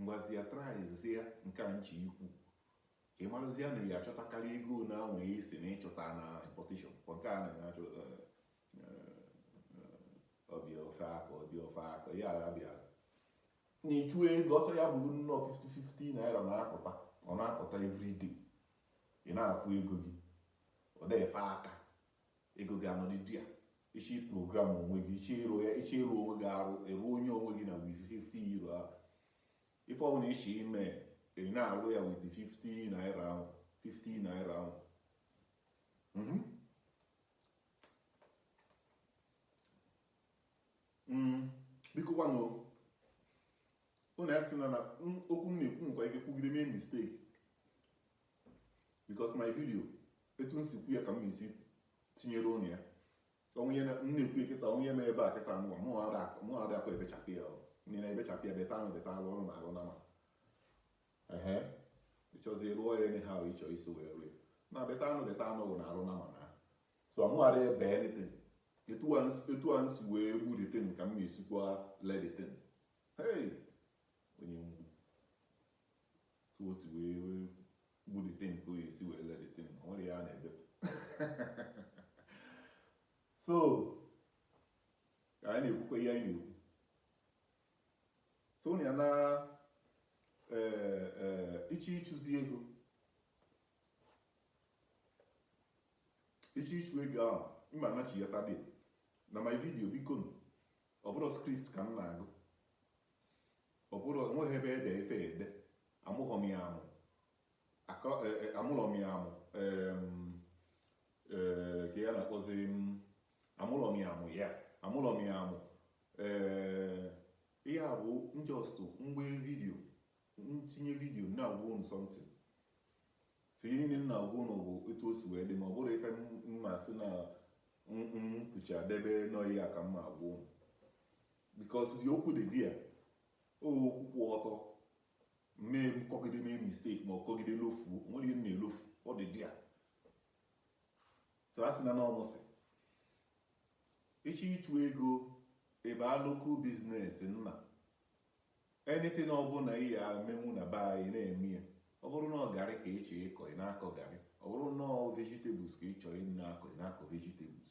Ngwazia tryzia nke a m chọ ikwu ka ị marazia na ị ya-achọtakarị ego na anwe ya isi na ịchọta na importation kwa nke a na ya achọ ọ bịa ofe aka ọ bịa ofe aka ya agha bịa na ịchụ ego ọsọ ya bụrụ nnọọ 50-50 naira na-apụta ọ na-apụta everyday ị na-afụ ego gị ọ na-efe aka ego gị anọdị there ị chọ iprogram onwe gị ị chọ ịrụ ya ị chọ ịrụ onwe gị arụ ịrụ onye onwe gị na with 50 naira ahụ ife ọbụla ị chọ ime ị na-arụ ya with 50 naira ahụ 50 naira ahụ mhm. mm, biko gwanụ unu ya sị na okwu m na-ekwu nkwa ike kwugide mee mistake because my video etu m si kwu ya ka m esi tinyere unu ya o nwe ihe m na-ekwu kịta o nwe ihe m ebe a kịta mụwa mụ adakwa ebechapụ ya ndị na-ebechapụ ya beta anụ beta alụ ọrụ na alụ na ma ehe ịchọzi rụọ ya enye ha ahụ ịchọ isi wee rụọ na beta anụ beta anụ bụ na alụ na ma na so mụ ada ebe anything etu a m si wee gbu the thing ka m na-esikwa le the thing hey onye ngwu ka o si wee gbu the thing ka o si wee le the thing o nwerọ ihe a na-ebepụ so ka anyị na-ekwukwa ihe anyị na-ekwu so ya na e, e, ị chọ ịchụzi ego ị chọ ịchụ ego ahụ ịma anachi ya tabia na my video biko ọ bụrọ script ka m na-agụ ọ bụrọ enweghị ebe e de ife ede amụghọ m ya amụ Akọ- e- e- amụlọ m ya amụ em, eh, ka ya na-akpọzi m amụlọ m ya amụ ya amụlọ m ya amụ ee ihe a bụ m just mgbe vidiyo m tinye vidiyo na-agwa unu something so ihe niile m na-agwa unu bụ etu o si wee dị ma ọ bụrọ ife m- m na-asị na m- m kwucha debe nọyi ya ka m na-agwa unu because the okwu dị there ọ okwu kwụ ọtọ mee m kọgide mee mistake m kọgide lofu nwere ihe m na-elofu ọ dị there so a sị na n'ọnụ si ị chọ ịchụ ego ị bịa local business na anything ọbụla ị ya-emenwu na be anyị na-eme ya ọ bụrụ na ọ garị ka ị chọ ịkọ ị na-akọ garị ọ bụrụ na ọ vegetables ka ị chọ ịna-akọ ị na-akọ vegetables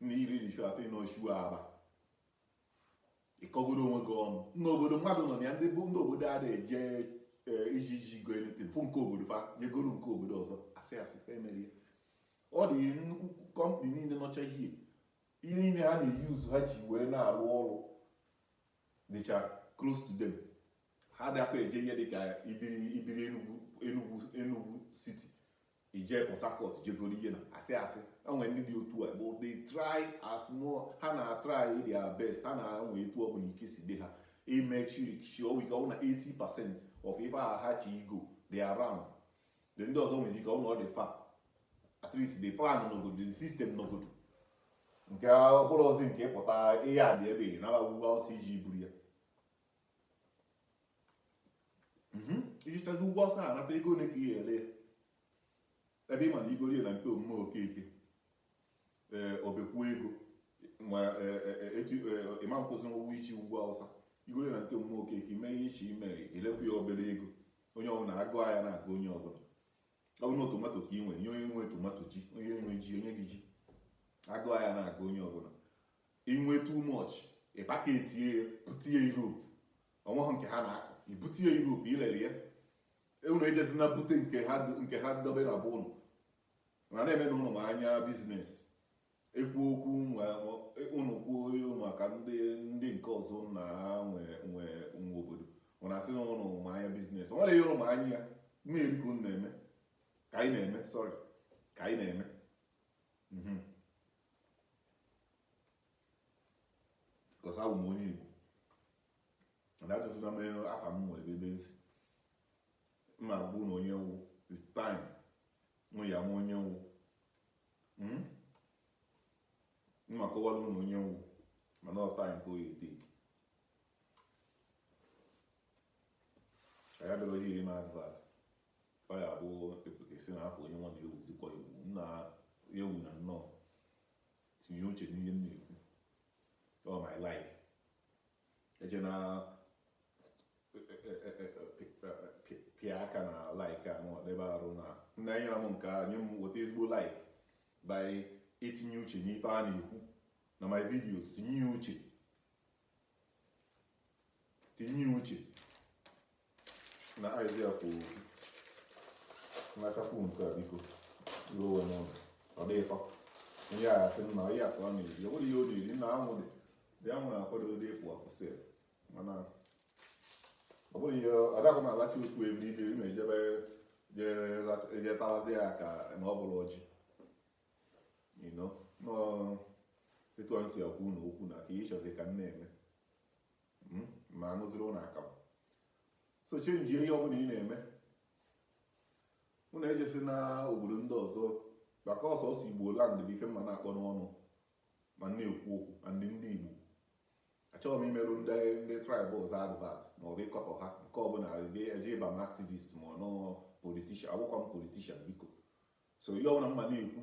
na iri iri shu asị na oshu aba ịkọgodo onwe gị ọnụ n'obodo mmadụ nọ na ya ndị bụ ndị obodo a na-eje e, iji iji go anything fụ nke obodo fa nyegoro nke obodo ọzọ asị asị fa emere ya ọ dị nnukwu company niile nọcha ihe ihe niile ha na-eyuzu ha ji wee na-arụ ọrụ dịcha close to them ha adịkwa eje ihe dịka i biri i biri Enugwu Enugwu Enugwu city ije Port Harcourt jegoro ihe na asị asị enwe ndị dị otu a bụ they try as more ha na try their best ha na-enwe etu ọ bụla ike si dị ha imechi chi ọnwa ike ọ na 80 percent of ife ahụ ha chọ igo dị around the ndị ọzọ nwezi ike ọ na ọ dị fa at least the plan nọgodo the system nọgodo nke ọbụla ozi nke pụta ihe a dị ebe na agbagwugwu ọsọ ije buru ya mhm. i jechazị ugwu Awụsa nata ego ole ka ị ga-ere ya ebe ị ma na i goro ya na nke omume okeke ee eh, obekwuo ego ma eh, eh, etu ị ma na ị kwụzi ụgwọ ije ugwu Awụsa i goro ya na nke omume okeke mee ihe ị chọ ime elekwu ya obere ego onye ọbụla agụụ ahịa na-agụ onye ọbụla ọ bụrụ na tomato ka ị nwere nye onye nwe tomato ji onye nwe ji onye gị ji agụụ ahịa na-agụ onye ọbụla I nwe too much, ị package ya, bute ya Europe. O nweghị nke ha na-akọ. I bute ya Europe, ilele ya. E, Unu ejezina bute nke ha nke ha dobe na be unu. Mana na-eme na unu ma anya business. Ekwu okwu unu e, unu kwuo ihe unu maka ndị ndị nke ọzọ unu na ha nwe nwe nwe obodo. Unu asị na unu ma anya business. O nwere ihe unu ma anya ya. Na-eri ka unu na-eme. Ka anyị na-eme, sorry. Ka anyị na-eme. Mhm. because abụ m onye Igbo na achọsịna m afa m nwe ebe ebe m si m ma agwa unu onye m wụ with time unu ya-ama onye m wụ hmm? m ma akọwara unu onye m wụ mana ọ time ka oyi dik anyị abịaghị ihe ime advert Ọ ya bụ ị pụta ị sị na afọ onye nwa na-ewuzikwa ewu m na ewu na nnọọ tinye uche n'ihe m na-ekwu ọ my like ejena pịa aka na like a nọ n'ebe ahụ na ị na-enyere m aka nye m weta ezigbo like by itinye uche n'ife a na-ekwu na my videos tinye ya uche tinye uche na idea kwụ okwu nwachapụ nke a biko ruo onwe n'ụlọ ọ dị ịtọ ihe a sị na ihe akpa ọ na-eri ọ bụrụ ihe ọ na-eri na anwụ dị dị anwụ na-akwado ụdị ịpụ apụ sef mana ọ bụrụ ihe ọ dịghị m alachi okwu ebe ibe ị na-ejebe jee tawazi ya ka na ọ bụrụ ọjị etu a si agwa unu okwu na ka ịchọzi ka m na-eme hmm? ma anụziri ụnụ akamụ so change ihe ọbụla ị na-eme ụnụ ejesi na obodo ndị ọzọ maka ọ sọsọ Igbo land bụ ife m na-akpọ n'ọnụ ma na-ekwu okwu na ndị ndị igbo achọghị m imerụ ndị ndị tribe ọzọ advert ma ọ bụ ịkọtọ ha nke ọbụla eji ịba m activist ma ọ bụ politician abụghịkwa m politician biko so ihe ọbụla m na-ekwu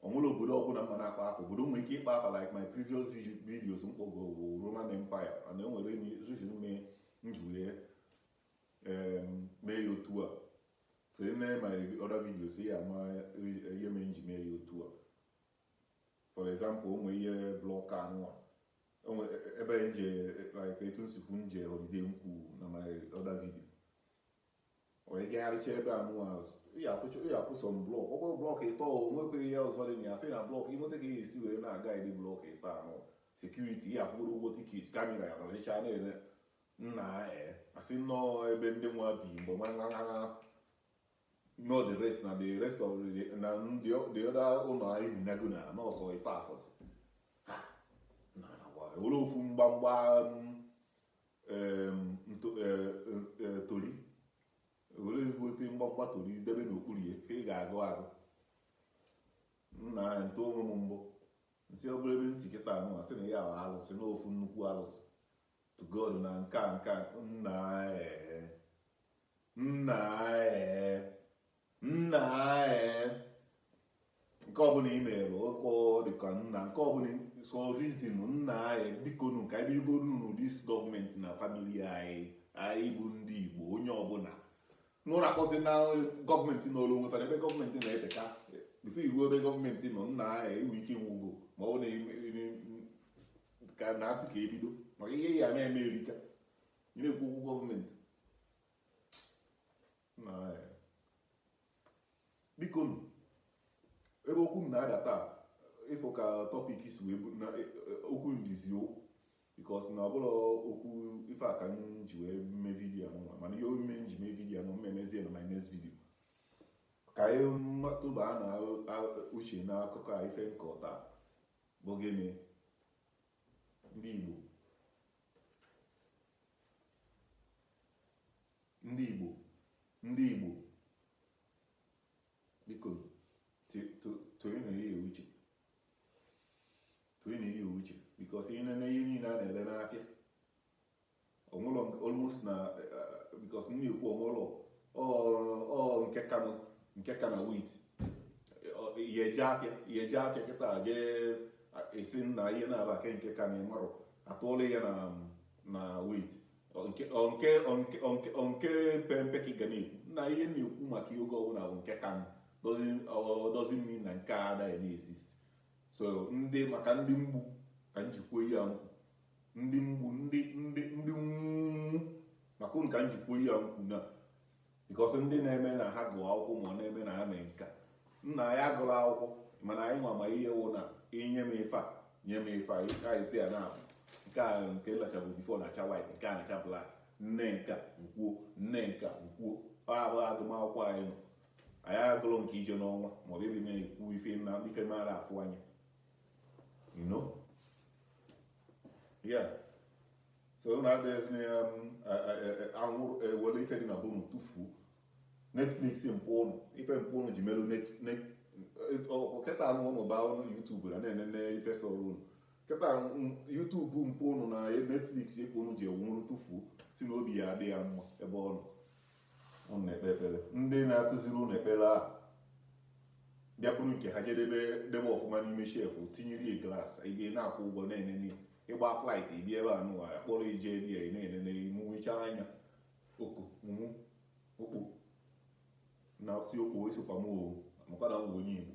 o nwere obodo ọbụla m na-akpọ afa obodo nwere ike ịkpọ afa like my previous videos m kpọgo bụ Roman Empire mana e nwere reason mee m ji wee mee ya otu a so in my other videos ị ya-ama ihe mee m ji mee ya otu a for example o nwe ihe block anụwa o nwe ebe m je like etu m si kwuo m je holiday m kwu na my other video onye gagharịcha ebe a nụwa azụ ị afụ sọ block ọ kwa block ịtọ nwekweghị ihe ọzọ dị na ya sị na block ịnweta ka esi wee na-aga ịdị block ịtọ anụ security ihe a kwụrụ ụgwọ ticket camera ya nọrịcha na-ele nna e asị nnọọ ebe ndị nwa bi mgbe nwa nwa nwa no the rest na the rest of the na the other ụlọ anyị bi na gona nọọsụ ịtọ afọsị ha na na ofu mgbamgba tori were ezigbo ote mgbamgba tori debe n'okpuru ya ka ị ga-agụ agụ nna ya m tụọ onwe m mbọ m sị ọ bụrụ ebe m si kịta anụ a sị na ya ala alụsị na ofu nnukwu alụsị tọgbọ na nke a nke a nna ee nna ee nna ee nke ọbụla ị mere ụkọ dịka nna nke ọbụla so reason nna anyị biko nu ka anyị bigoru n'ụdị isi government na family anyị anyị bụ ndị igbo onye ọbụla n'ụlọ akpọzi na government n'ụlọ onwe fara ebe government na-eteka before iru ebe government nọ nna anyị iwu ike nwugo ma ọ na ka a na-asị ka e bido maka ihe ya na-eme eri ka a na-ekwu okwu government biko nụ ebe okwu m na-aga taa ị fụ ka topic si wee bụrụ na e, e, okwu ndizi o because na ọ bụrọ okwu ife a ka m ji wee mee video nwa mana ihe mere m ji mee video nwa m emezie na my next video ka anyị tụba na uche na akụkọ a ife m kọta bụ gịnị ndị Igbo Ndị Igbo, ndị Igbo, biko tinyenụ ihe uche tinyenụ ihe uche because ihe na ihe niile a na-ele n'afịa onwụlọ almost na eh, because m na-ekwu onwụlọ ọ nke ka na nke ka na weight i jee afịa i jee afịa kịta jee sị na ihe na-aba nke ka na ị mara atụọla ya na weight nke pempe ka ị ga na-ekwu na ihe na-ekwu maka ihe oge ọbụla bụ nke ka doesn't mean na nke a anaghị na-exist so ndị maka ndị Igbo ka m ji kwuo ihe a m kwu ndị Igbo ndị ndị ndị maka ụnụ ka m ji kwuo ihe a m kwu na because ndị na-eme na ha gụọ akwụkwọ ma ọ na-eme na ha mee nka nna ya gụrụ akwụkwọ mana anyị nwa ma ihe wụ na i nye m ife a nye m ife a ka isi ya na-abụ nke a nke na-achabu before na-acha white nke a na-acha black nne nka nkwuo nne nka nkwuo ọ abụghị agụmakwụkwọ anyị nọ anyị agụrụ nke ije n'ọnwa maọbụ ịdị na-ekwu ife na ife mara afụ anya you know yeah so unu abịazi na ya um, anwụrụ ewere ife dị na bụ unu tụfuo netflix mpụ ụnụ ife mpụ ụnụ ji merụ kịta anụ ụnụ baa ụnụ YouTube na na-enene ife sọrọ ụnụ kịta um, YouTube mpụ ụnụ na netflix ife ụnụ ji enwụrụ tụfuo sị na obi ya adị ya mma ebe ọ nọ unu na-ekpe ekpere ndị na-akụziri unu ekpere ahụ bịa buru nke ha je debe debe ọfụma n'ime shelf tinyere ya glass ị bịa na-akwụ ụgwọ na-enene ị baa flight ị bịa ebe a nụwa kpọrọ ije ebe ya na-enene mụchaa anya oku mụmụ okpo na si okpo esikwa m o makwa na m bụ onye Igbo